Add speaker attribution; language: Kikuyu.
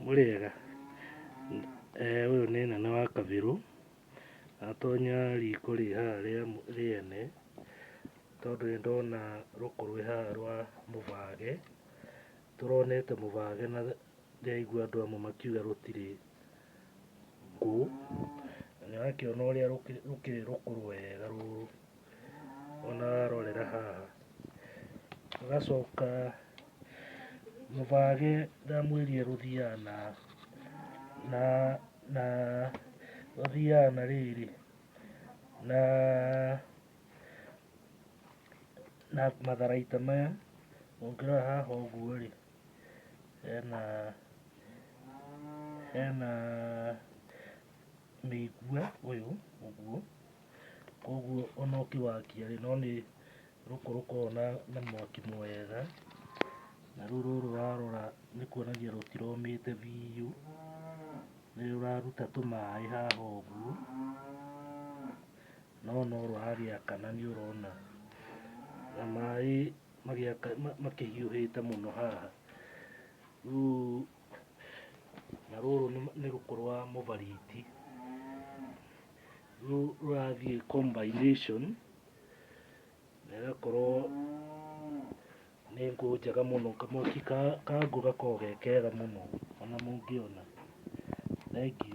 Speaker 1: Mũrĩega? Ũyũ nĩ nene wa kabirũ atonya riko rĩ haha rĩa rĩene tondũ nĩ ndona rũkũ rwĩ haha rwa mũbage. Tũronete mũbage na ndĩraigua andũ amwe makiuga rũtirĩ ngũ. Na nĩ ũrakĩona ũrĩa rũkĩrĩ rũkũrũ wega rũrũ. ona warorera haha ũgacoka mũbage ndamwĩrie rũthiaga na na na rũthiaga na rĩrĩ na na matharaita maya ũngĩrora haha ũguo rĩ hena hena mĩigua ũyũ ũguo Koguo ona ũkĩwakia rĩ, no nĩ rũkũ rũkoragwo na na mwaki mwega, na rĩu rũrũ warora nĩ kuonania rũtiromĩte biũ, nĩ rũraruta tũmaĩ haha ũguo, no no rũragĩakana nĩ ũrona, na maĩ magĩaka makĩhiũhĩte mũno haha, rĩu... Na rũrũ nĩ- nĩ rũkũ rwa mũbariti Rũ- rũrathiĩ combination na ĩgakorwo nĩ ngũ njega mũno kamwaki ka ka ngũ gakoragwo ge kega mũno ona mũngĩona thengiũ